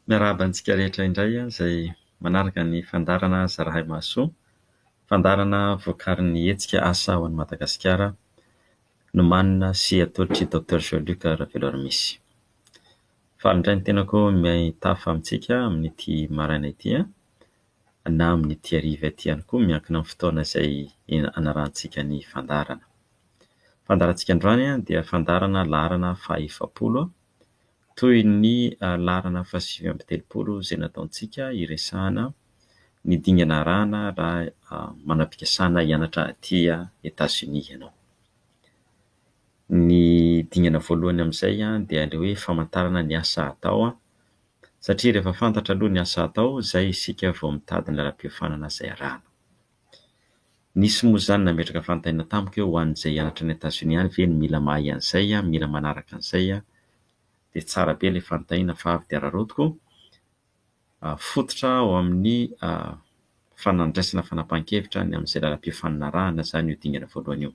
Miarahaba antsika rehetra indray izay manaraka ny fandaharana zarahay mahasoa, fandaharana vokarin'ny hetsika Asa ho an'i Madagasikara nomanina sy atolotr'i Docteur Jean Luc Raveloarimisy. Faly indray ny tenako mitafa amintsika amin'ity maraina ity na amin'ity hariva ity ihany koa miankina amin'ny fotoana izay anarahantsika ny fandaharana. Fandaharantsika androany dia fandaharana laharana fahaefapolo toy ny laharana fahasivy amby telopolo izay nataontsika hiresahana ny dingana arahana raha manam-pikasana hianatra aty Etazonia ianao. Ny dingana voalohany amin'izay dia ilay hoe famantarana ny asa atao satria rehefa fantatra aloha ny asa atao izay isika vao mitady ny lalam-piofanana izay arahana. Nisy moa izany nametraka fanontaniana tamiko hoe ho an'izay hianatra any Etazonia any ve no mila mahay an'izay, mila manaraka an'izay dia tsara be ilay fanontaniana fa avy dia araraotiko fototra ao amin'ny fanandraisana fanapahan-kevitra ny amin'izay lalam-piofanana arahana izany io dingana voalohany io.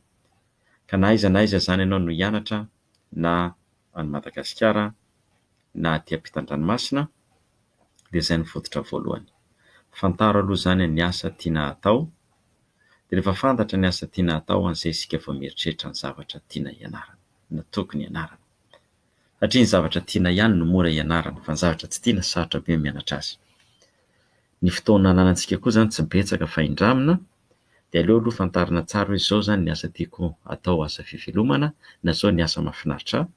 Ka na aiza na aiza izany ianao no hianatra na any Madagasikara na aty am-pitan-dranomasina, dia izay no fototra voalohany. Fantaro aloha izany ny asa tiana hatao, dia rehefa fantatra ny asa tiana hatao an'izay isika vao mieritreritra ny zavatra tiana hianarana na tokony hianarana. Satria ny zavatra tiana ihany no mora hianarana fa ny zavatra tsy tiana sarotra be ny mianatra azy. Ny fotoana ananantsika koa izany tsy betsaka fa indramina dia aleo aloha fantarina tsara hoe izao izany ny asa tiako hatao asa fivelomana na izao ny asa mahafinaritra ahy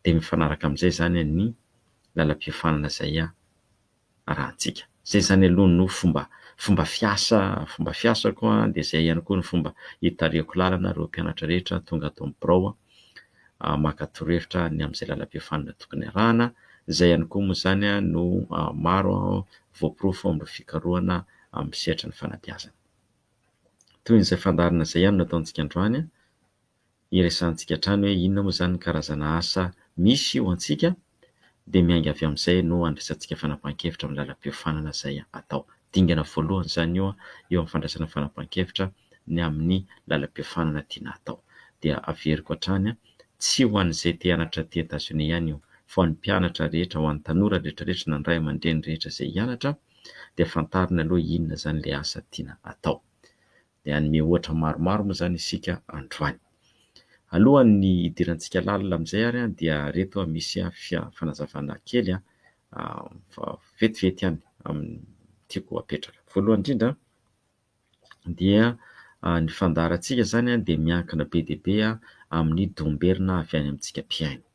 dia mifanaraka amin'izay izany ny lalam-piofanana izay iarahantsika. Izay izany aloha no fomba fomba fiasa fomba fiasako dia izay ihany koa ny fomba itarihako lalana ireo mpianatra rehetra tonga ato amin'ny birao maka torohevitra ny amin'izay lalam-piofanana tokony iarahana. Izay ihany koa moa izany no maro voaporofo amin'ireo fikarohana amin'ny sehatry ny fanabeazana. Toy izay fandaharana izay ihany no ataontsika androany. iresahantsika hatrany hoe inona moa izany ny karazana asa misy ho antsika dia miainga avy amin'izay no handraisantsika fanapahan-kevitra amin'ny lalam-piofanana izay atao. Dingana voalohany izany io eo amin'ny fandraisana fanapahan-kevitra ny amin'ny lalam-piofanana tiana hatao. Dia averiko hatrany, tsy ho an'izay te hianatra aty Etazonia ihany io fa ho an'ny mpianatra rehetra, ho an'ny tanora rehetrarehetra na ny ray aman-dreny rehetra izay hianatra dia fantariny aloha inona izany ilay asa tiana atao. Dia hanome ohatra maromaro moa izany isika androany. Alohan'ny hidirantsika lalina amin'izay ary dia ireto misy fanazavana kely fa vetivety ihany amin'ny tiako hapetraka. Voalohany indrindra dia ny fandaharantsika izany dia miankina be dia be amin'ny domberina avy any amintsika mpihaino.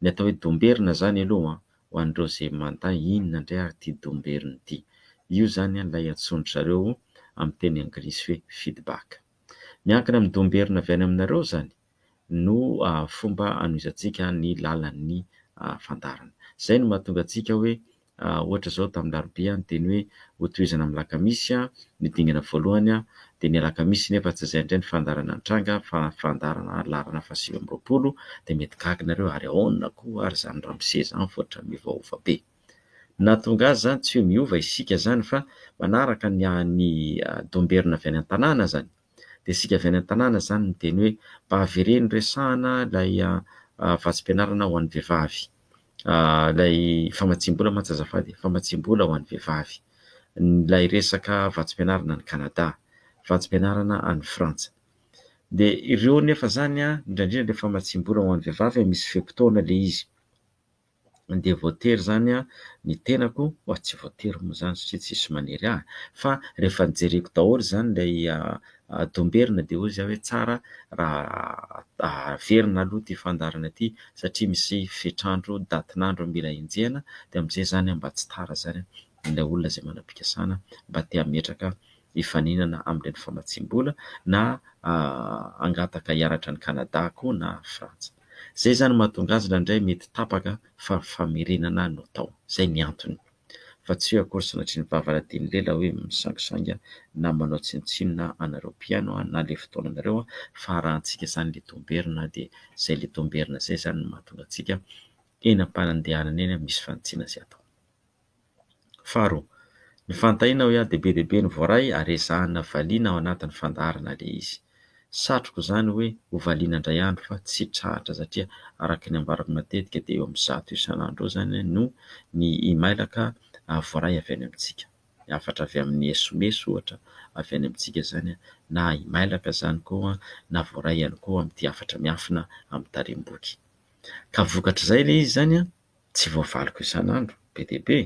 Ny atao hoe domberina izany aloha ho an'ireo izay mandà inona indray ary ity domberina ity. Io izany ilay antsoin-dry zareo amin'ny teny anglisy hoe feedback. Miankina amin'ny domberina avy any aminareo izany no fomba hanohizantsika ny lalan'ny fandaharana. Izay no mahatonga antsika hoe Ohatra izao tamin'ny larobia ny teny hoe hotohizana amin'ny lakamisy ny dingana voalohany dia ny alakamisy nefa tsy izay indray ny fandaharana nitranga fa fandaharana laharana fahasivy amby roapolo dia mety gaga nareo ary aona koa ary izany ramose izany vao otrany miovaova be nahatonga azy izany tsy hoe miova isika izany fa manaraka ny domberina avy any an-tanàna izany dia isika avy any an-tanàna izany miteny hoe mba avereno resahana ilay vatsim-pianarana ho an'ny vehivavy, ilay famatsiam-bola mantsy azafady e, famatsiam-bola ho an'ny vehivavy, ilay resaka vatsim-pianarana any Canada, vatsim-pianarana any Frantsa. Dia ireo nefa izany an, indrindra indrindra ilay famatsiam-bola ho an'ny vehivavy misy fe-potoana ilay izy. dia voatery izany ny tenako mba tsy voatery moa izany satria tsisy manery ahy fa rehefa nojereko daholo izany ilay domberina dia hoy zah hoe tsara raha averina aloha ity fandaharana ity satria misy fetr'andro datin'andro mila enjehina dia amin'izay izany mba tsy tara izany ilay olona izay manam-pikasana mba te hametraka hifaninana amin'ireny famatsiam-bola na hangataka hianatra any Canada koa na Frantsa. Izay izany mahatonga azy indraindray mety tapaka fa famerenana no atao. Izay ny antony. Fa tsy eo akory sanatria ny vavaradian'i Lela hoe misangisangy na manao tsinontsinona anareo mpihaino na ilay fotoananareo fa arahantsika izany ilay dombierina dia izay ilay dombierina izay izany no mahatonga antsika eny am-panandehanana eny misy fanitsiana izay atao. Faharoa, ny fantahiana hoe ady be dia be no voaray ary ezahina valiana ao anatin'ny fandaharana ilay izy. Satriko izany hoe ho valiana indray andro fa tsy tratra satria araka ny ambarako matetika dia eo amin'ny zato isan'andro eo izany no ny imailaka voaray avy any amintsika. Ny hafatra avy amin'ny SMS ohatra avy any amintsika izany na imailaka izany koa na voaray ihany koa amin'ity hafatra miafina amin'ny tarehim-boky. Ka vokatr'izay ilay izy izany an! tsy voavaliko isan'andro be dia be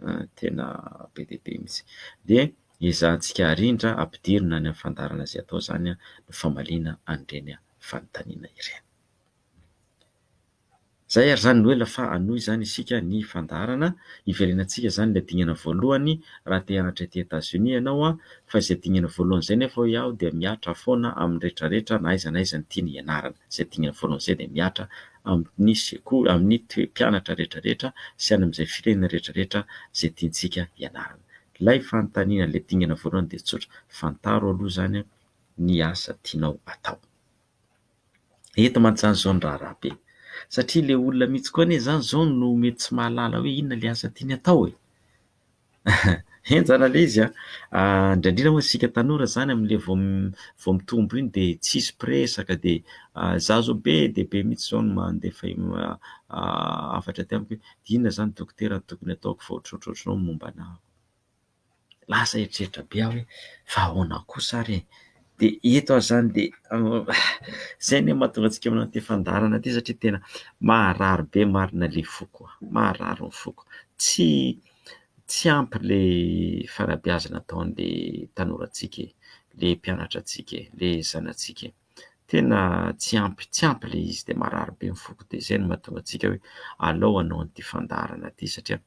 ah, tena be dia be mihitsy, dia ezahantsika arindra ampidirina any amin'ny fandaharana izay atao izany ny famaliana an'ireny fanontaniana ireny. Izay ary izany no ela fa hanohy izany isika ny fandaharana, hiverenantsika izany ilay dingana voalohany raha te hianatra ety Etazonia ianao an, fa izay dingana voalohany izay nefa hoy aho dia mihatra foana amin'ny rehetra rehetra na aiza na aiza ny tiany hianarana, izay dingana voalohany izay dia mihatra amin'ny sekoly, amin'ny toe mpianatra rehetra rehetra sy any amin'izay firenena rehetra rehetra izay tiantsika hianarana. Ilay fanontaniana, ilay dingana voalohany dia tsotra, fantaro aloha izany ny asa tianao atao. Eto mantsy izany izao ny raharaha be, satria ilay olona mihitsy koa anie izany izao no mety tsy mahalala hoe inona ilay asa tiany atao e! Henjana ilay izy an! Indraindray moa isika tanora izany amin'ilay vao vao mitombo iny dia tsisy mpiresaka dia izaho izao be dia be mihitsy izao no mandefa hafatra aty amiko hoe inona izany dokotera no tokony hataoko fa ohatrohatry ohatranao ny momba anah. Lasa eritreritra be aho hoe fa ahoana kosa ary e? Dia eto ary izany dia izay anie no mahatonga antsika manao ity fandaharana ity satria tena maharary be marina ilay foko, maharary ny foko, tsy. Tsy ampy ilay fanabeazana ataon'ilay tanorantsika e, ilay mpianatra antsika e, ilay zanatsika e. Tena tsy ampy, tsy ampy ilay izy dia marary be ny foko dia izay no mahatonga antsika hoe alao hanao an'ity fandaharana ity satria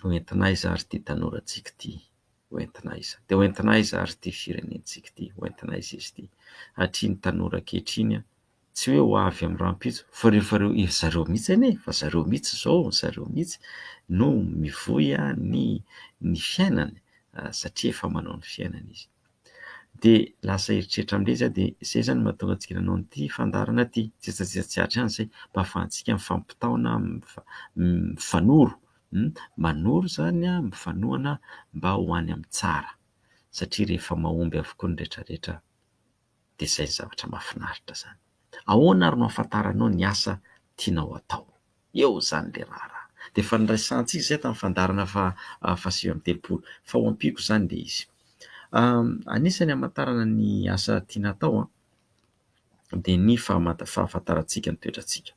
ho entin'aiza ary ity tanorantsika ity. Ho entina aiza? Dia ho entina aiza ary ity firenentsika ity? Ho entina aiza izy ity? Hatria ny tanora ankehitriny an! Tsy hoe ho avy amin'ny rahampitso fa ireo efa ireo efa zareo mihitsy anie e! Efa zareo mihitsy izao, zareo mihitsy no mivoy ny ny fiainany satria efa manao ny fiainany izy. Dia lasa eritreritra amin'ilay izy aho dia izay zany no mahatonga antsika nanao an'ity fandaharana ity. Tsy etsy antsika tsy atsy ihany izay mba ahafahantsika mifampitaona, mifanoro manoro izany an, mifanohana mba ho any amin'ny tsara satria rehefa mahomby avokoa ny rehetra rehetra dia izay ny zavatra mahafinaritra izany. Ahoana ary no ahafantaranao ny asa tianao atao? Eo izany ilay raharaha. Dia efa niraisantsika izay tamin'ny fandaharana faha fahasivy amby telopolo fa ho ampiako izany ilay izy. Anisan'ny hamantarana ny asa tiana atao an. dia ny fahafantarantsika ny toetrantsika.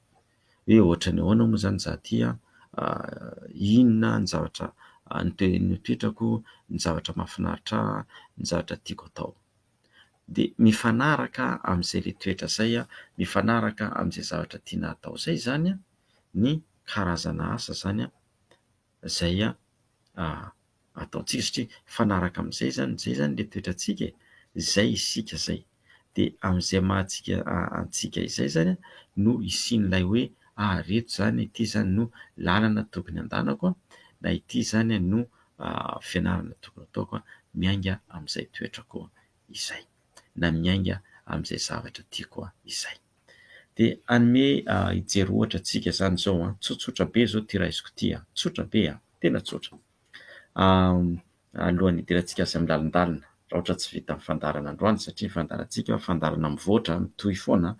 Hoe ohatran'ny ahoana moa izany izaho ity an, inona ny zavatra ny toetrako, ny zavatra mahafinaritra ahy, ny zavatra tiako atao. Dia mifanaraka amin'izay ilay toetra izay, mifanaraka amin'izay zavatra tiana atao izay izany ny karazana asa izany. izay ataontsika satria mifanaraka amin'izay izany, izay izany ilay toetrantsika e, izay isika izay dia amin'izay maha antsika antsika izay izany no hisian'ilay hoe ah ry reto izany ity izany no lalana tokony handehanako na ity izany no fianarana tokony hataoko miainga amin'izay toetrako izay, na miainga amin'izay zavatra tiako aho izay. Dia hanome hijery ohatra antsika izany izao an, tsotsotra be izao ity raisiko ity an, tsotra be an, tena tsotra. Alohan'ny hidirantsika azy amin'ny lalindalina, raha ohatra tsy vita ny fandaharana androany satria ny fandaharantsika fandaharana mivoatra, mitohy foana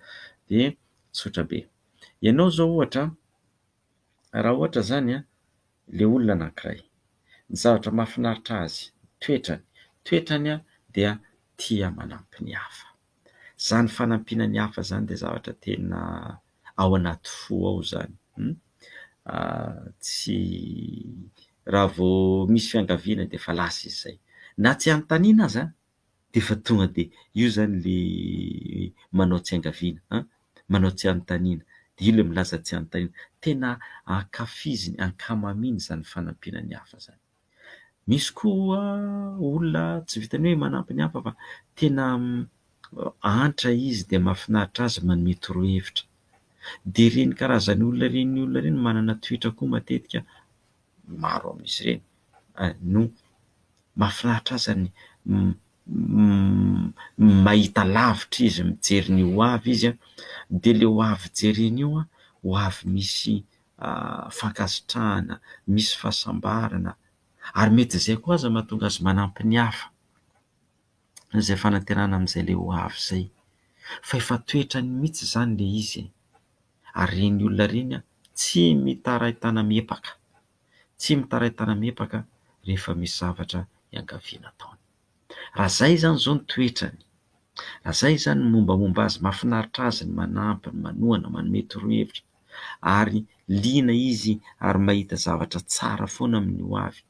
dia tsotra be. Ianao izao ohatra, raha ohatra zany an, le olona anankiray, ny zavatra mahafinaritra azy, toetrany, toetrany an dia tia manampy ny hafa, zany fanampiana ny hafa zany dia zavatra tena ao anaty fo ao zany, tsy raha vao misy fiangaviana dia efa lasa izy zay, na tsy anontaniana aza an! D'efa tonga de io zany le manao tsy angaviana an! manao tsy anontaniana, de io le milaza tsy anontaniana. Tena ankafizin'ny ankamamiany zany fanampiana ny hafa zany. Misy koa olona tsy vitan'ny hoe manampy ny hafa fa tena antra izy de mahafinaritra azy manome torohevitra. De reny karazan'olona reny olona reny manana toetra koa matetika maro amin'izy ireny no mahafinaritra azy ny mahita lavitra izy mijery ny ho avy izy dia ilay ho avy jereny io ho avy misy fankasitrahana, misy fahasambarana ary mety izay koa aza mahatonga azy manampy ny hafa, izay fanaterana amin'izay ilay ho avy izay fa efa toetrany mihintsy izany ilay izy e! ary ireny olona ireny tsy mitarain-tana miepaka, tsy mitarain-tana miepaka rehefa misy zavatra iangaviana ataony. Raha izay izany izao ny toetrany, raha izay izany ny mombamomba azy, mahafinaritra azy ny manampy, ny manohana, manome torohevitra ary liana izy ary mahita zavatra tsara foana amin'ny ho avy,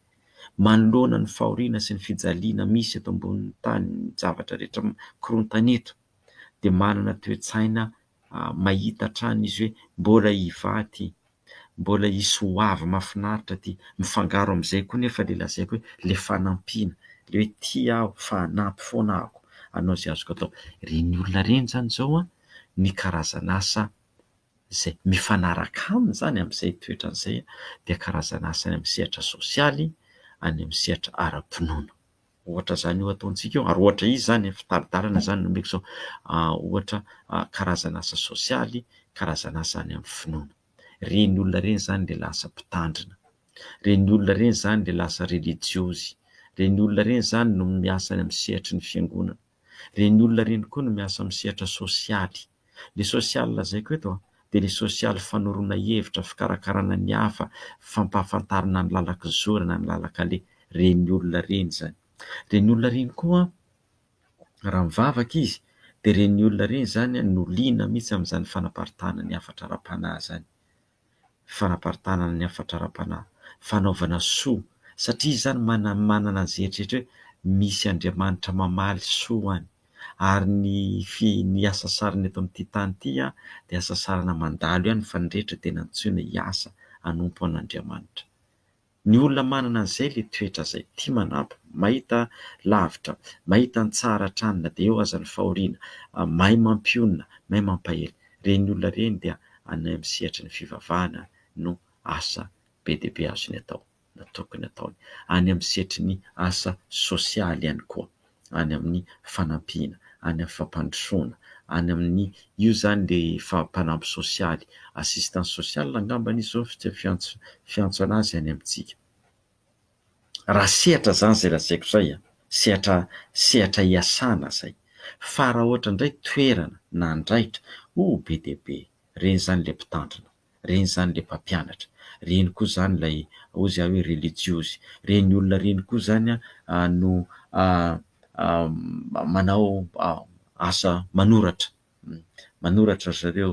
manoloana ny fahoriana sy ny fijaliana misy eto ambonin'ny tany, ny zavatra rehetra mikorontana eto dia manana toe-tsaina mahita hatrany izy hoe mbola hivaha ity, mbola hisy ho avy mahafinaritra ity. Mifangaro amin'izay koa nefa ilay lazaiko hoe ilay fanampiana, ilay hoe tia aho fa hanampy foana aho, hanao izay azoko atao. Ireny olona ireny izany izao ny karazan'asa izay mifanaraka aminy izany amin'izay toetrany izay dia karazan'asa any amin'ny sehatra sosialy, any amin'ny sehatra ara-pinoana. Ohatra izany io ataontsika io ary ohatra izy izany e, fitari-dalana izany no omeko izao, ohatra karazana asa sosialy, karazana asa any amin'ny finoana. Ireny olona ireny izany dia lasa mpitandrina, ireny olona ireny izany dia lasa relijiozy, ireny olona ireny izany no miasa any amin'ny sehatry ny fiangonana. Ireny olona ireny koa no miasa amin'ny sehatra sosialy. Ilay sosialy lazaiko eto dia ilay sosialy fanoroana hevitra, fikarakarana ny hafa, fampahafantarana ny lalan-kizory na ny lalan-kaleha. Ireny olona ireny izany. Ireny olona ireny koa, raha mivavaka izy, dia ireny olona ireny izany no liana mihitsy amin'izany fanaparitahana ny hafatra ara-panahy izany. fanaparitahana ny hafatra ara-panahy, fanaovana soa, satria izany manana ny zeritreritra hoe misy Andriamanitra mamaly soa ho any. Ary ny fi, ny asa sarona eto amin'ity tany ity an, dia asa sarona mandalo ihany fa ny rehetra dia nantsoina hiasa hanompo an'Andriamanitra. Ny olona manana an'izay le toetra zay, tia manampy, mahita lavitra, mahita ny tsara hatrany na dia eo aza ny fahoriana, mahay mampionona, mahay mampahery. Reny olona reny dia any amin'ny sehatry ny fivavahana no asa be dia be azony atao na tokony ataony. Any amin'ny sehatry ny asa sosialy ihany koa. any amin'ny fanampiana, any amin'ny fampandrosoana, any amin'ny, io izany ilay efa mpanampy sosialy, assistance sociale angamba anie izao no fiantso fiantso an'azy any amintsika. Raha sehatra izany izay lazaiko izay an, sehatra sehatra iasana izay. Fa raha ohatra indray toerana na andraikitra, oh be dia be, ireny izany ilay mpitandrina. Reny izany ilay mpampianatra. Reny koa izany ilay, hozy aho hoe relijiozy. Reny olona reny koa izany no manao asa manoratra. Manoratra ry zareo,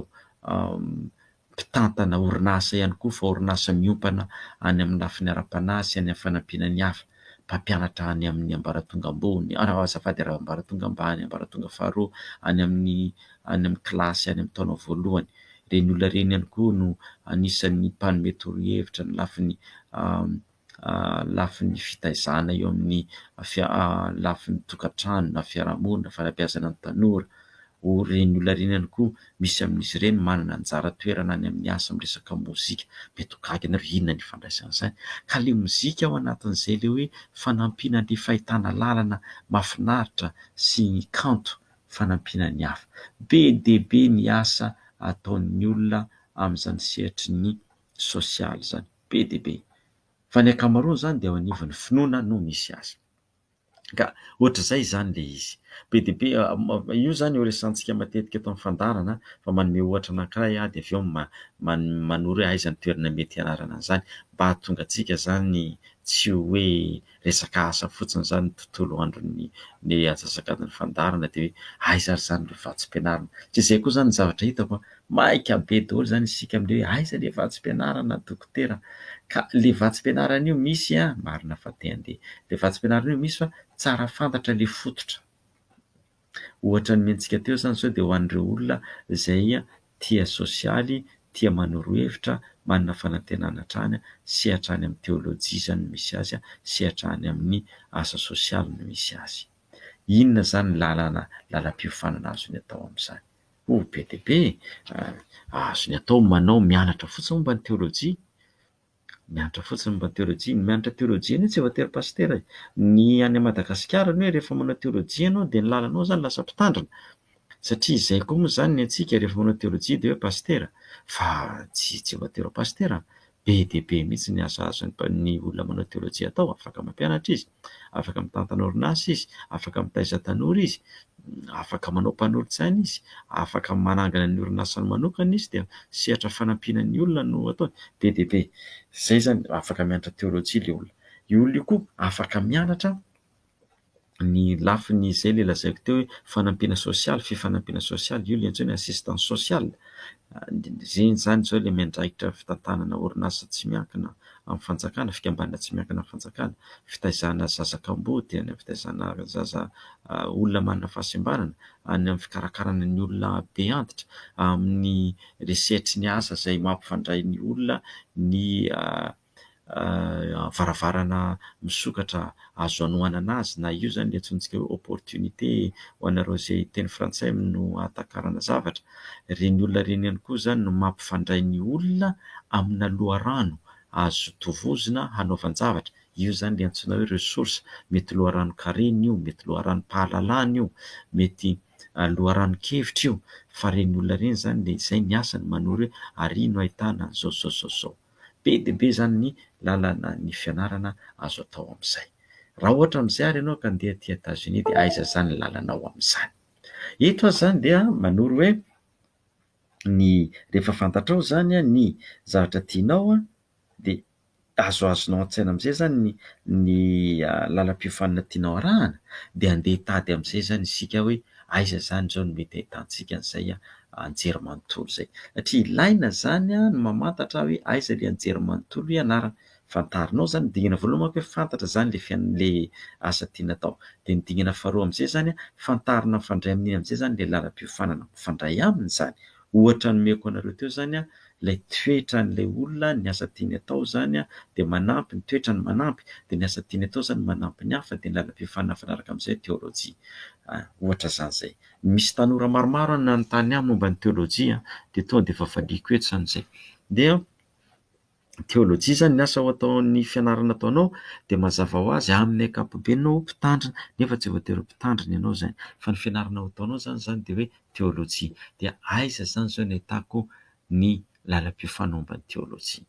mpitantana orinasa ihany koa fa orinasa miompana any amin'ny lafiny ara-panahy sy any amin'ny fanampiana ny hafa. mpampianatra any amin'ny ambaratonga ambony, azafady ary ambaratonga ambany, ambaratonga faharoa, any amin'ny any amin'ny kilasy any amin'ny taona voalohany. Ireny olona ireny ihany koa no anisan'ny mpanome torohevitra ny lafiny lafiny fitaizana eo amin'ny lafiny tokantrano na fiarahamonina, fanabeazana ny tanora Ho ren'ny olona ireny ihany koa misy amin'izy ireny manana anjara toerana any amin'ny asa miresaka mozika. Mety ho gaga ianareo hoe inona ny ifandraisan'izany? Ka ilay mozika ao anatin'izay ilay hoe fanampiana an'ilay fahitana lalana mahafinaritra sy ny kanto fanampiana ny hafa. Be dia be ny asa ataon'ny olona amin'izany sehatry ny sosialy izany. Be dia be. Fa ny ankamaroany izany dia eo anivon'ny finoana no misy azy. Ka ohatr'izay izany ilay izy. Be dia be, io izany eo resahantsika matetika eto amin'ny fandaharana fa manome ohatra anankiray aho dia avy eo manoro hoe aiza ny toerana mety hianarana an'izany mba hahatonga antsika izany tsy ho hoe resaka asa fotsiny izany ny tontolo andron'ny ny atsasakadin'ny fandaharana dia hoe aiza ary izany ireo vatsy am-pianarana. Tsy izay koa izany ny zavatra hitako an! Maika be daholo izany isika amin'ireo hoe aiza ilay vatsim-pianarana dokotera? Ka ilay vatsim-pianarana io misy an! marina fa te handeha. Ilay vatsim-pianarana io misy fa tsara fantatra ilay fototra. Ohatra nomentsika teo izany izao dia ho an'ireo olona izay tia sosialy, tia manoro hevitra, manana fanantenana hatrany sy hatrany amin'ny teolojia izany no misy azy sy hatrany amin'ny asa sosialy no misy azy. Inona izany lalana, lalam-piofanana azony atao amin'izany? Oh, be dia be eh! Azony atao ny manao mianatra fotsiny momba ny teolojia, mianatra fotsiny momba ny teolojia. Ny mianatra teolojia anie tsy voatery pasitera e! Ny any Madagasikara anie rehefa manao teolojia ianao dia ny lalanao izany lasa mpitandrina, satria izay koa moa izany ny antsika rehefa manao teolojia dia hoe pasitera, fa tsy voatery ho pasitera, Be dia be mihitsy ny asa azon'ny olona manao teolojia atao, afaka mampianatra izy, afaka mitantana orinasa izy, afaka mitaiza tanora izy, afaka manao mpanolotsaina izy, afaka manangana ny orinasany manokana izy dia sehatra fanampiana ny olona no ataony. Be dia be izay izany afaka mianatra teolojia ilay olona. Io olona io koa afaka mianatra ny lafiny izay ilay lazaiko teo hoe fanampiana sosialy, fifanampiana sosialy, io ilay antsoina hoe assistance sociale. Ireny izany izao ilay miandraikitra fitantanana orinasa tsy miankina amin'ny fanjakana, fikambanana tsy miankina amin'ny fanjakana, fitaizana zaza kamboty, any amin'ny fitaizana zaza olona manana fahasembanana, any amin'ny fikarakarana ny olona be antitra, amin'ny research ny asa izay mampifandray ny olona ny. varavarana misokatra azo anohanana azy na io izany ilay antsointsika hoe opportunité ho anareo izay hiteny frantsay no hahatakarana zavatra. Ireny olona ireny ihany koa izany no mampifandray ny olona amina loharano azo tovozina hanaovan-javatra. Io izany ilay antsoina hoe ressource. Mety loharanon-karena io, mety loharanom-pahalalana io, mety loharanon-kevitra io fa ireny olona ireny izany dia izay ny asany manoro hoe ary no ahitana an'izao, izao, izao. Be dia be izany ny lalana ny fianarana azo atao amin'izay. Raha ohatra amin'izay ary ianao ka andeha aty Etazonia dia aiza izany ny lalanao amin'izany. Eto aho izany dia manoro hoe ny rehefa fantatrao izany ny zavatra tianao dia azoazonao an-tsaina amin'izay izany ny ny lalam-piofanana tianao arahana dia andeha hitady amin'izay izany isika hoe aiza izany izao no mety ahitantsika an'izay anjerimanontolo izay. Satria ilaina izany ny mamantatra hoe aiza ilay anjerimanontolo ianarana. Fantarinao izany, ny dingana voalohany manko hoe fantatra izany ilay fian- ilay asa tiana atao. Dia ny dingana faharoa amin'izay izany, fantarina mifandray amin'iny amin'izay izany ilay lalam-piofanana mifandray aminy izany. Ohatra nomeko anareo teo izany ilay toetran'ilay olona, ny asa tiany atao izany dia manampy, ny toetrany manampy, dia ny asa tiany atao izany manampy ny hafa, dia ny lalam-piofanana mifanaraka amin'izay teolojia. Ohatra izany izay. Misy tanora maromaro nanontany ahy momba ny teolojia dia tonga dia efa valiako eto izany izay. Dia teolojia izany ny asa ho ataon'ny fianarana ataonao dia mazava ho azy amin'ny ankapobeny ianao mpitandrina nefa tsy voatery ho mpitandrina ianao izany fa ny fianarana ho ataonao izany izany dia hoe teolojia. Dia aiza izany izao no ahitako ny lalam-piofanana momba ny teolojia?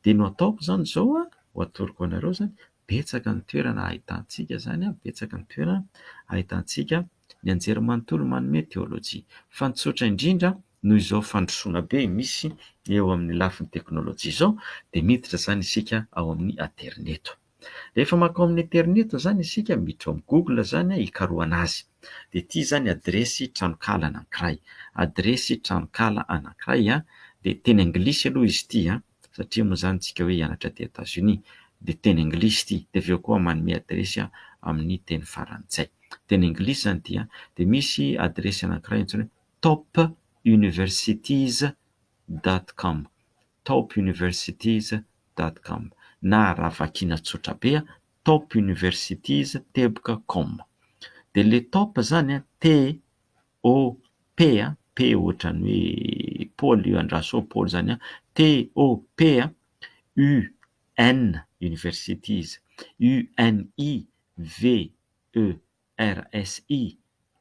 Dia ny ho ataoko izany izao an, ho atoroko anareo izany betsaka ny toerana ahitantsika izany, betsaka ny toerana ahitantsika ny anjerimanontolo manome teolojia. Fa ny tsotra indrindra, noho izao fandrosoana be misy eo amin'ny lafiny teknolojia izao, dia miditra izany isika ao amin'ny aterineto. Rehefa mankao amin'ny aterineto izany isika, miditra ao amin'ny google izany, hikarohana azy, dia ity izany adiresy tranonkala anankiray, adiresy tranonkala anankiray, dia teny anglisy aloha izy ity. satria moa izany tsika hoe hianatra aty Etazonia dia teny anglisy ity dia avy eo koa manome adiresy amin'ny teny farantsay. Teny anglisy izany ity an! Dia misy adiresy anankiray antsoina hoe topuniversities dot com, topuniversities dot com na raha vakiana tsotra be an! topuniversities teboka com. Dia ilay top izany an! T TOP a, P ohatran'ny hoe Paoly io, Andraso Paoly izany an, TOP a, UN, universities, UNI, VERSI,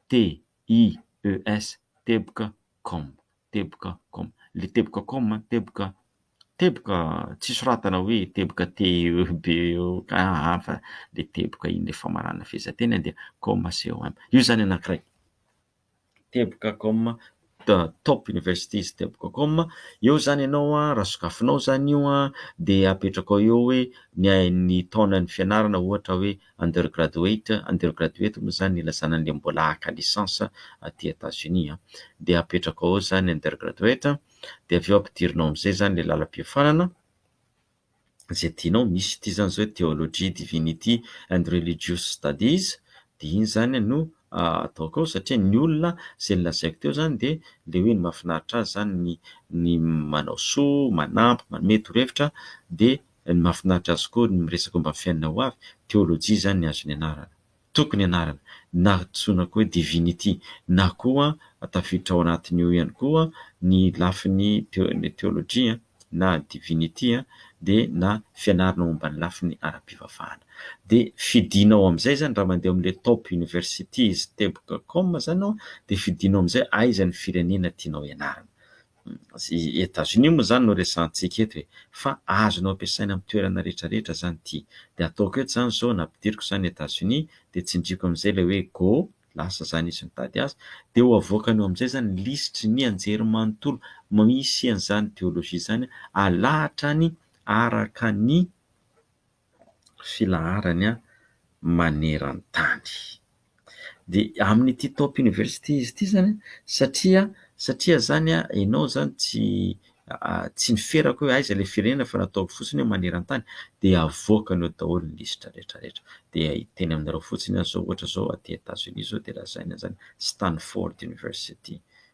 TIES, teboka, com. Teboka com, le teboka com, teboka teboka tsy soratana hoe teboka TEB eo aa fa le teboka iny le famaranana fehezanteny dia com com, io izany anankiray teboka com top universities teboka com, eo izany ianao raha sokafinao izany io dia apetrakao eo hoe ny taonan'ny fianarana ohatra hoe undergraduate, undergraduate moa izany ilazana an'ilay mbola haka licence aty Etats-Unis an, dia apetraka ao izany undergraduate dia avy eo ampidirinao amin'izay izany ilay lalam-piofanana izay tianao, misy ity izany izao hoe theology, divinity and religious studies dia iny izany no ataoko ao satria ny olona izay nolazaiko teo izany dia ilay hoe ny mahafinaritra azy izany ny manao soa, manampy, manome torohevitra dia Ny mahafinaritra azy koa ny miresaka omba ny fiainana ho avy, teolojia izany ny azony anarana. Tokony anarana, na antsoina koa hoe divinity, na koa tafiditra ao anatin'io ihany koa ny lafiny teolojia na divinity dia na fianarana omba ny lafiny ara-pivavahana. Dia fidinao amin'izay izany raha mandeha ao amin'ilay top universities teboka com izany ianao dia fidinao amin'izay aiza ny firenena tianao hianarana. Etazonia moa izany no resahantsika eto e, fa azonao ampiasaina amin'ny toerana rehetra rehetra izany ity. Dia ataoko eto izany izao, nampidiriko izany Etazonia, dia tsindriako amin'izay ilay hoe go, lasa izany izy mitady azy, dia ho avoakany eo amin'izay izany lisitry ny anjerimanontolo misy an'izany theologie izany alahatra any araka ny filaharany maneran-tany. Dia amin'ity top university izy ity izany satria satria izany ianao izany tsy tsy niferaka hoe aiza ilay firenena fa nataovy fotsiny hoe maneran-tany dia avoakany ao daholo ny lisitra rehetra rehetra dia hiteny aminareo fotsiny aho izao ohatra izao aty Etats-Unis izao dia lazainy an'izany Stanford university.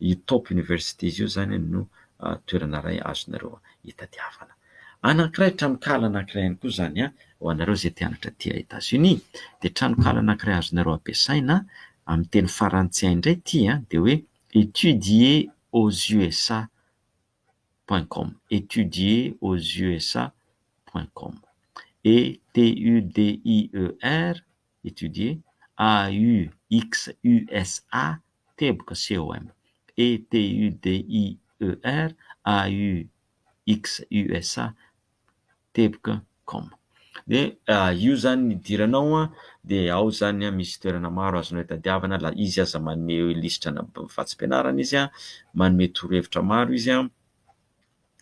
Io top universities io izany no toerana iray azonareo hitadiavana anankiray, tranonkala anankiray ihany koa izany ho anareo izay te hanatra aty Etats Unis. Dia tranonkala anankiray azonareo ampiasaina amin'ny teny farantsay indray ity dia hoe etudier aux USA point com, etudier aux USA point com, ETUDIER, etudier, AUXUSA. teboka COM, ETUDIER, AUX USA, teboka com. Dia io zany ny idiranao dia ao zany misy toerana maro azonao itadiavana la izy aza manome lisitrana vatsim-pianarana izy a, manome torohevitra maro izy a.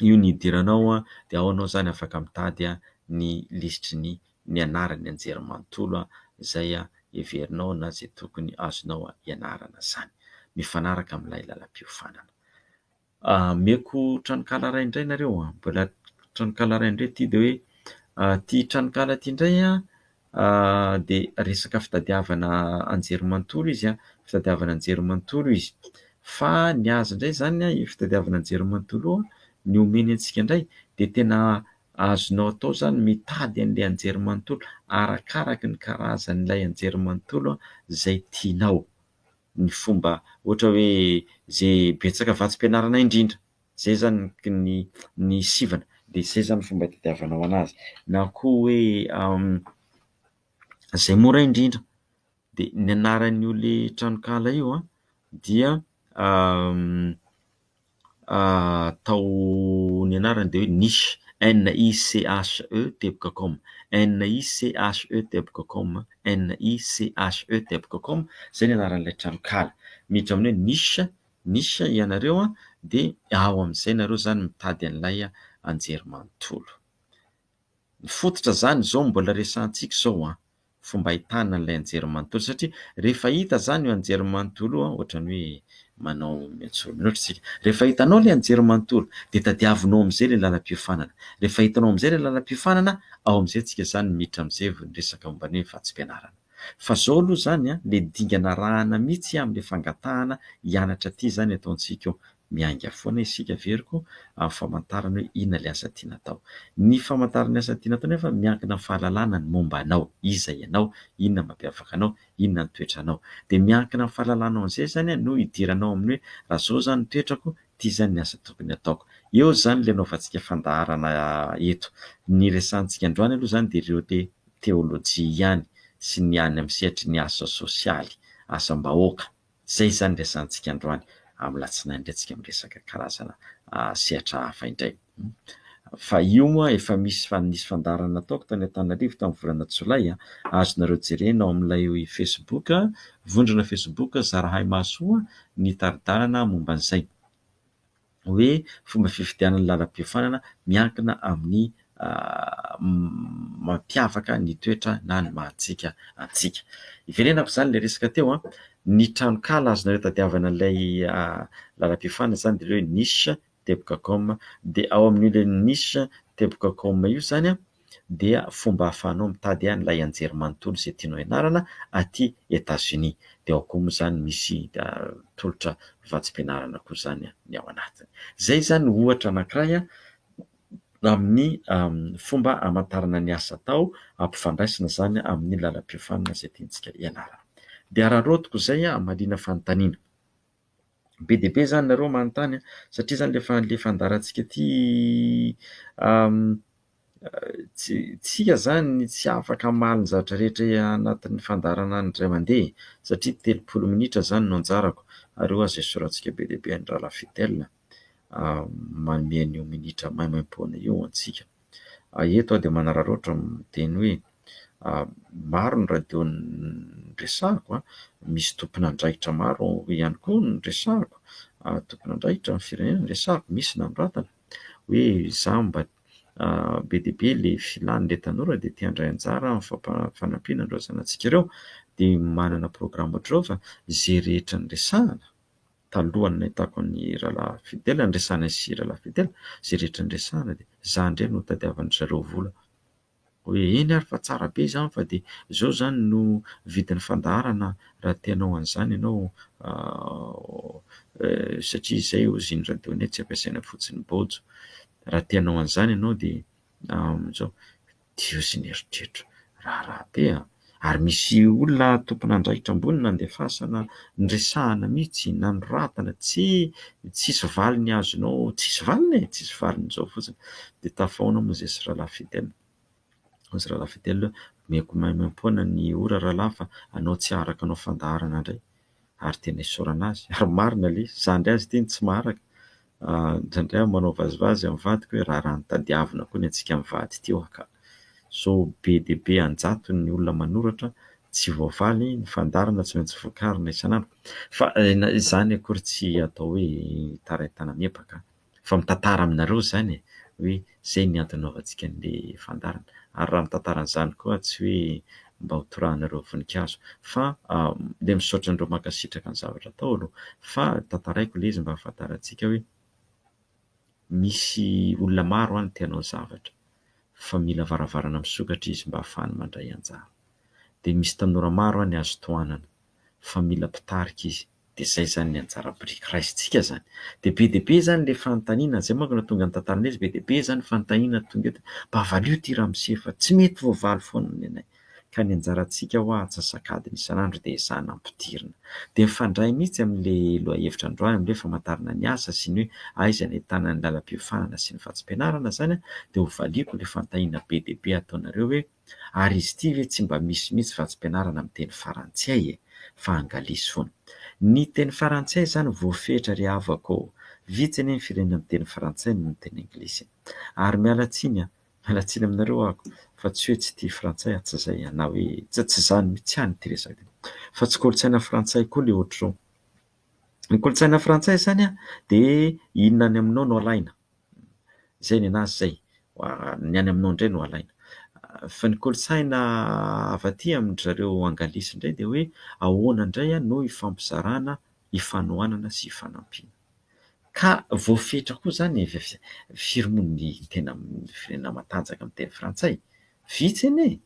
io ny hidiranao dia ao ianao izany afaka mitady ny lisitry ny ny anarany nianjera manontolo izay heverinao na izay tokony azonao ianarana izany mifanaraka amin'ilay lalam-piofanana. Omeko tranonkala iray indray nareo an! Mbola tranonkala iray indray ity dia hoe ity tranonkala ity indray an! dia resaka fitadiavana anjery manontolo izy an, fitadiavana anjery manontolo izy. Fa ny azy indray izany an, io fitadiavana anjery manontolo io, ny omeny antsika indray dia tena azonao atao izany ny mitady an'ilay anjery manontolo arakaraka ny karazan'ilay anjery manontolo izay tianao. ny fomba ohatra hoe zay betsaka vatsim-pianarana indrindra zay zany ny ny sivana de zay zany fomba itadiavanao anazy na koa hoe zay mora indrindra de ny anaran'io le tranonkala io dia atao ny anarany dia hoe niche, N-i-c-h-e teboka com, N-i-c-h-e teboka com, N-i-c-h-e teboka com, izay ny anaran'ilay tranonkala. Miditra amin'ny hoe niche, niche, ianareo dia ao amin'izay ianareo izany mitady an'ilay anjerimanontolo. Ny fototra izany izao no mbola resahantsika izao. fomba ahitana an'ilay anjerimanontolo satria rehefa hita izany io anjerimanontolo io ohatran'ny hoe manao miantsoa mihoatra isika. Rehefa hitanao ilay anjerimanontolo dia tadiavinao amin'izay ilay lalam-piofanana. Rehefa hitanao amin'izay ilay lalam-piofanana, ao amin'izay isika izany miditra amin'izay vao ny resaka momba ny hoe vatsim-pianarana. Fa izao aloha izany ilay dingana arahana mihitsy amin'ilay fangatahana hianatra ity izany ataontsika eo. Miainga foana isika ve ry ko amin'ny famantarana hoe inona ilay asa tiana atao. Ny famantarana ny asa tiana atao nefa miankina amin'ny fahalalana ny momba anao, iza ianao, inona mampiavaka anao, inona ny toetranao. Dia miankina amin'ny fahalalanao an'izay izany no hidiranao amin'ny hoe raha izao izany ny toetrako, ity izany ny asa tokony ataoko. Eo izany ilay anaovantsika fandaharana eto. Ny resahantsika androany aloha izany dia ireo te teolojia ihany sy ny any amin'ny sehatry ny asa sosialy, asam-bahoaka. Izay izany ny resahantsika androany. Amin'ny alatsinainy indray tsika miresaka karazana sehatra hafa indray. Fa io moa efa misy fa nisy fandaharana nataoko tany Antananarivo tamin'ny volana jolay a! Azonareo jerena ao amin'ilay facebook, vondrona facebook Zarahay Mahasoa ny tari-dalana momba an'izay. hoe fomba fifidianana lalam-piofanana miankina amin'ny mampiavaka ny toetra na ny maha antsika antsika. Hiverenako izany ilay resaka teo, ny tranonkala azonareo tadiavana ilay lalam-piofanana izany dia ilay hoe niche teboka com dia ao amin'io ilay niche teboka com io izany dia fomba ahafahanao mitady an'ilay anjerimanontolo izay tianao hianarana aty Etazonia. Dia ao koa moa izany misy tolotra vatsim-pianarana koa izany ny ao anatiny. Izay izany ohatra anankiray amin'ny fomba hamantarana ny asa atao, ampifandraisina izany amin'ny lalam-piofanana izay tiantsika hianarana. Dia araraotiko izay hamaliana fanontaniana. be dia be izany nareo manontany a, satria izany le fa- le fandaharantsika ity tsy isika izany tsy afaka hamaly ny zavatra rehetra anatin'ny fandaharana ny indray mandeha e, satria telopolo minitra izany no anjarako ary io aza esorantsika be dia be an'i Ralafy Fidèle. manome an'io minitra maimaimpoana io ho antsika. Eto aho dia manararaotra miteny hoe maro ny radio noresahako, misy tompon'andraikitra maro ihany koa noresahako, tompon'andraikitra amin'ny firenena no resahako, misy nanoratana hoe izaho mba be dia be ilay filàn'ilay tanora dia te handray anjara amin'ny fampanampiana ireo zanatsika ireo dia manana programme ohatr'ireo fa izay rehetra noresahana talohan'ny nahitako an'i Rahalahy Fidèle, niresahana izy sy Rahalahy Fidèle, izay rehetra niresahana dia izaho indray no notadiavan-dry zareo vola. Hoe eny ary fa tsara be izany fa dia izao izany no vidin'ny fandaharana raha te hanao an'izany ianao satria izay hozy iny radio iny hoe tsy ampiasaina fotsiny Bojo. Raha te hanao an'izany ianao dia izao. Dio sy ny eritreritro. Raharaha be an! Ary misy olona tompon'andraikitra ambony nandefasana niresahana mihitsy, nanoratana, tsy tsisy valiny azonao, tsisy valiny e! tsisy valiny zao fotsiny de tafahoana moa zay sy Ralaha Fidel, hoy izy Ralaha Fidel hoe omeko maimaimpoana ny ora Ralaha fa anao tsy araka anao fandaharana ndray, ary tena isaorana azy ary marina le izy, zandry azy ity no tsy maharaka, indraindray aho manao vazivazy amin'ny vadiko hoe raharaha nitadiavina koa ny antsika mivady ity hoa ka! Zao be dia be an-jatony ny olona manoratra tsy voavaly, ny fandaharana tsy maintsy vokarina isan'andro, fa izany akory tsy atao hoe hitarain-tana miepaka an! Efa mitantara aminareo izany e, hoe izay ny antony nanaovantsika an'ilay fandaharana. Ary raha mitantara an'izany koa tsy hoe mba ho torahanareo voninkazo fa dia misaotra anareo mankasitraka ny zavatra atao aloha. Fa tantaraiko ilay izy mba hahafantarantsika hoe misy olona maro any te hanao zavatra fa mila varavarana misokatra izy mba hahafahany mandray anjara. Dia misy tanora maro any azo tohanana fa mila mpitarika izy. Dia izay izany ny anjara biriky raisintsika izany. Dia be dia be izany ilay fanontaniana, izay manko no nahatonga ny tantaranay izy, be dia be izany fanontaniana tonga eto, mba valio ity ramose fa tsy mety voavaly foana ny anay. Ka ny anjarantsika hoa antsasak'adiny isan'andro dia ezahana ampidirina. Dia mifandray mihitsy amin'ilay lohahevitra androany amin'ny hoe famantarana ny asa sy ny hoe aiza ny ahitana ny lalam-piofahana sy ny vatsim-pianarana izany dia hovaliako ilay fanontaniana be dia be ataonareo hoe, Ary izy ity ve tsy mba misy mihitsy vatsim-pianarana amin'ny teny farantsay e! fa angalisy foana. Ny teny farantsay izany voafehitra ry havako ô! Vitsy anie ny firenena miteny frantsay no miteny anglisy. Ary miala tsiny an! miala tsiny aminareo ahako fa tsy hoe tsy tia frantsay aho, tsy izay an! na hoe tsy izany mihitsy ihany ity resaka ity fa tsy kolontsaina frantsay koa le ohatr'izao. Ny kolontsaina frantsay izany dia inona any aminao no alaina? Izay ny an'azy izay, ny any aminao indray no alaina. Fa ny kolontsaina avy aty amin-dry zareo anglisy indray dia hoe ahoana indray no ifampizarana, ifanohanana sy ifanampiana. Ka voafetra koa izany firy moa ny tena amin'ny firenena matanjaka miteny frantsay? Vitsy anie e!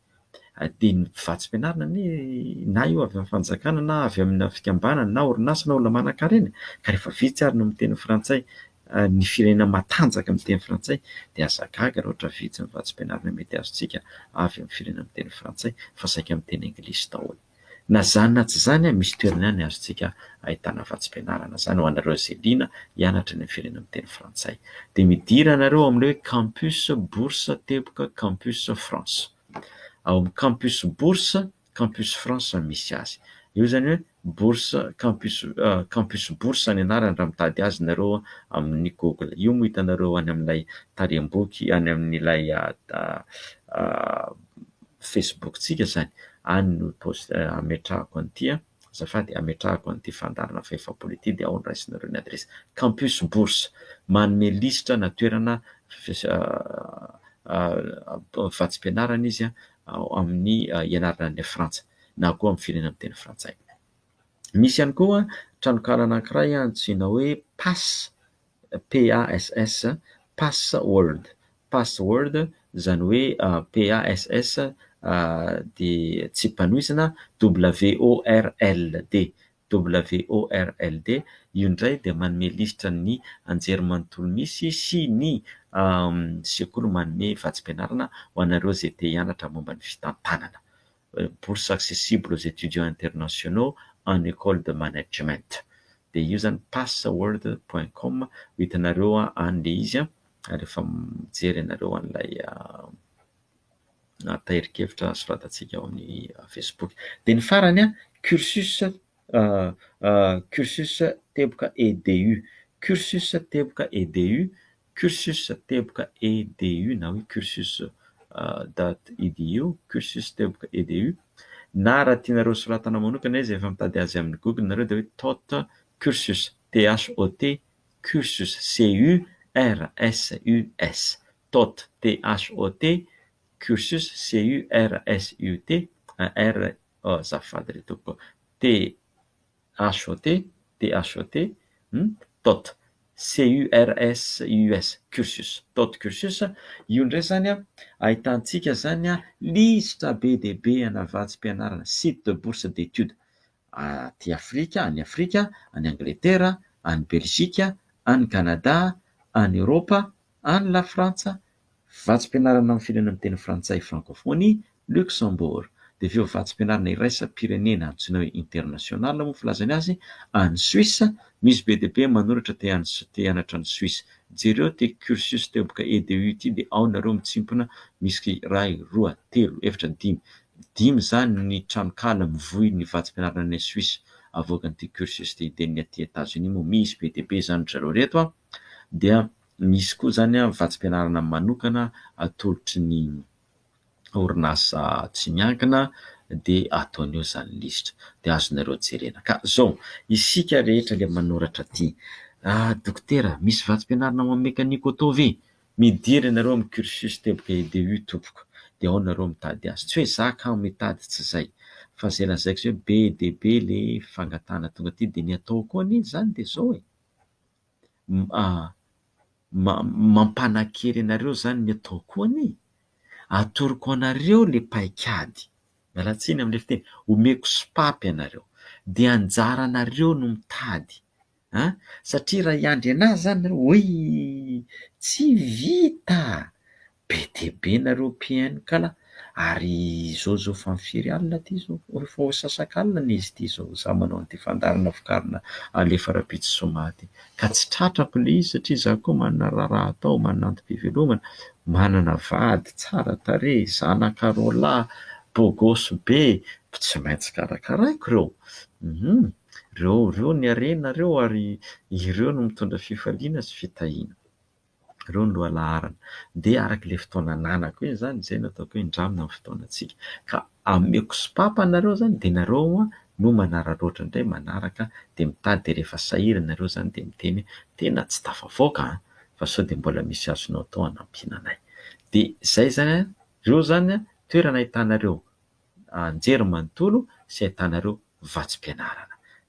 dia ny vatsim-pianarana anie na io avy amin'ny fanjakana na avy amina fikambanana na orinasa na olona manankarena ka rehefa vitsy ary no miteny frantsay ny firenena matanjaka miteny frantsay dia aza gaga raha ohatra vitsy ny vatsim-pianarana mety azontsika avy amin'ny firenena miteny frantsay fa saika miteny anglisy daholo Na izany na tsy izany, misy toerana ihany azontsika ahitana vatsim-pianarana izany ho anareo izay liana hianatra ny firenena miteny frantsay. Dia midira ianareo ao amin'ilay hoe Campus Bourse teboka Campus France. Ao amin'ny Campus Bourse, Campus France no misy azy. Io izany hoe Bourse Campus Campus Bourse ny anarany raha mitady azy ianareo amin'ny Google. Io moa hitanareo any amin'ilay tarehim-boky, any amin'ilay Facebook tsika izany any no post- ametrahako an'ity a, azafady ametrahako an'ity fandaharana fahefapolo ity dia ao no raisinareo ny adresse, Campus Bourse manome lisitra na toerana vatsim-pianarana izy a, amin'ny ianarana any Frantsa na koa amin'ny firenena miteny frantsay, misy ihany koa tranonkahala anankiray antsoina hoe Pass PASS, pass word, pass word izany hoe PASS dia tsipanohizana WORLD, WORLD, io indray dia manome lisitra ny anjerimanontolo misy sy ny sekoly manome vatsim-pianarana ho anareo izay te hianatra momba ny fitantanana. bourse accessible aux étudiants internationaux en école de management dia io zany password point com ho hitanareo any le izy a rehefa mijery ianareo an'ilay tahirin-kevitra soratantsika ao amin'ny facebook dia ny farany a cursus cursus teboka EDU cursus teboka EDU Cursus teboka EDU na hoe cursus dad EDU, cursus teboka EDU, na raha tianareo hosoratana manokana izy, efa mitady azy amin'ny google nareo dia hoe tot cursus, THOT cursus, CURSUS, tot, THOT cursus, CURSUT, un R azafady re tompoko, T. HOT, DHOT, ny tot, CURS, US, cursus, tot cursus, io indray izany ahitantsika izany lisitra be dia be ana vatsim-pianarana, site de bourse d'étude, aty Afrika, any Afrika, any Angletera, any Belzika, any Kanada, any Eoropa, Any Lafrantsa, vatsim-pianarana amin'ny firenena miteny frantsay, francophonie, Luxembourg. Dia avy eo vatsim-pianarana iraisam-pirenena antsoina hoe international moa filazany azy, any Suisse. Misy be dia be manoratra te hianatra any Suisse. Jereo ity cursus teboka EDU ity dia ao nareo mitsimpona, misy iray, roa, telo, efatra, dimy. Dimy izany ny tranonkala mivoy ny vatsim-pianarana any Suisse avoakan'ity cursus ity. Dia ny aty Etats-Unis moa misy be dia be izany ry zareo ireto an! dia misy koa izany vatsim-pianarana manokana atolotry ny orinasa tsy miankina dia ataony eo izany lisitra dia azonareo jerena. Ka izao, isika rehetra dia manoratra aty, ah dokotera misy vatsim-pianarana ho an'ny mekaniko atao ve? midira ianareo amin'ny cursus teboka EDU tompoko dia ao nareo mitady azy, tsy hoe za kamo mitady tsy izay fa izay lazaiko izay hoe be dia be le fangatahana tonga aty dia ny atao koa anie izany dia izao e! mampanakery anareo izany ny ataoko anie, atoroko anareo ilay paik'ady, miala tsiny amin'ilay fiteny, omeko sopapa ianareo, dia anjaranareo no mitady an! satria raha hiandry an'ahy izany ianareo, hoy! tsy vita! Be dia be nareo PN kala ary izao izao efa ny firy alina ty izao, efa ho asasakalina izy ity izao za manao an'ity fandaharana vokarina alefa rahampitso zoma ity ka tsy tratrako le izy satria za koa manana raharaha atao, manana antom-pivelomana, manana vady tsara tarehy, zanaka roa lahy beau gosse be, tsy maintsy karakaraiko ireo hum ireo ireo ny harenareo ary ireo no mitondra fifaliana sy fitahiana. Ireo no lohalaharana. Dia araka ilay fotoana ananako hoe izany, izay no ataoko hoe indramina ny fotoanantsika. Ka ameko sopapa anareo izany dia nareo no manararaotra indray manaraka dia mitady dia rehefa sahirana ianareo izany dia miteny hoe tena tsy tafavoaka an! fa sao dia mbola misy azonao atao hanampiana anay. Dia izay izany an! Ireo izany an! toerana ahitanareo anjery manontolo sy ahitanareo vatsim-pianarana.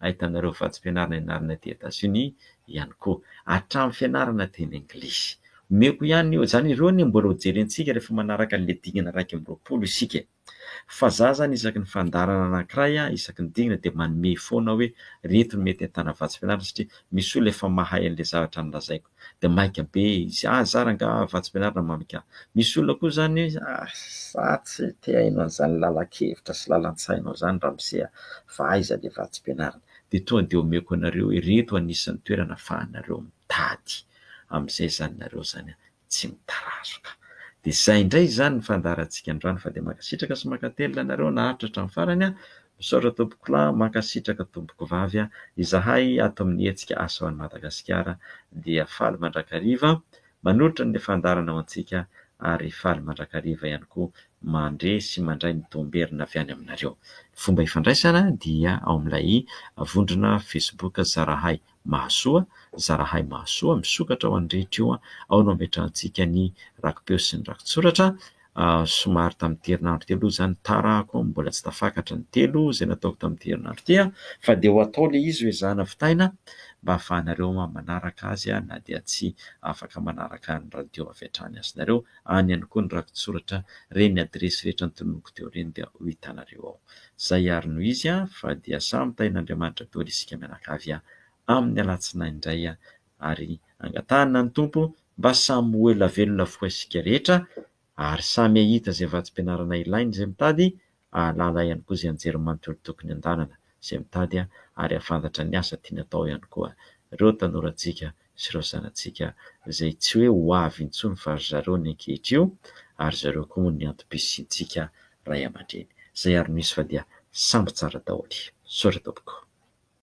ahitana ireo vatsim-pianarana ianarana aty Etazonia ihany koa, hatramin'ny fianarana teny anglisy. Omeko ihany io, izany ireo anie mbola hojerentsika rehefa manaraka an'ilay dingana iraika amby roapolo isika. Fa izaho izany isaky ny fandaharana anankiray, isaky ny dingana dia manome foana hoe ireto no mety ahitana vatsim-pianarana satria misy olona efa mahay an'ilay zavatra nolazaiko. dia maika be izy, ah za rangah Ravatsimpianarina mamik ah, misy olona koa zany hoe ah za tsy te haino an'izany lalan-kevitra sy lalan-tsainao zany ramose ah fa aiza le Vatsimpianarina, dia toa dia omeko anareo hoe ireto anisan'ny toerana afahanareo mitady amin'izay zany nareo zany ah tsy mitarazoka, dia zay indray izany ny fandaharantsika androany fa dia mankasitraka sy mankatelina anareo naharitra hatramin'ny farany ah, Misaotra tompokla mankasitraka tompoko vavy a, izahay ato amin'ny hetsika Asa ho an'i Madagasikara dia faly mandrakariva manolotra ny fandaharana ho antsika ary faly mandrakariva ihany koa mandre sy mandray ny tohomberina avy any aminareo. Ny fomba ifandraisana dia ao amin'ilay vondrona facebook Zarahay Mahasoa, Zarahay Mahasoa, misokatra ho an'ny rehetra io, ao no ametrahantsika ny rakipeo sy ny rakitsoratra, somary tamin'ity herinandro teo aloha izany, tarako ao, mbola tsy tafakatra ny telo izay nataoko tamin'ity herinandro ity an, fa dia ho atao ilay izy hoezahana vitaina mba hahafahanareo manaraka azy na dia tsy afaka manaraka ny radio avy hatrany aza ianareo, any ihany koa ny rakitsoratra re ny adiresy rehetra notononiko teo ireny dia ho hitanareo ao. Zay ary no izy a fa dia samy tahin'Andriamanitra daholo isika mianakavy a amin'ny alatsinainy indray a ary angatahana ny Tompo mba samy ho ela velona avokoa isika rehetra ary samy hahita izay vatsim-pianarana ilainy izay mitady hahalala ihany koa izay anjerimanontolo tokony tokony handalana izay mitady ary hahafantatra ny asa tiany atao ihany koa ireo tanorantsika sy ireo zanatsika izay tsy hoe ho avy intsony fa ry zareo ny ankehitrio ary zareo koa moa ny antom-pisiantsika Ray aman-dreny izay ary misy fa dia samby tsara daholo. Sorry tompoko.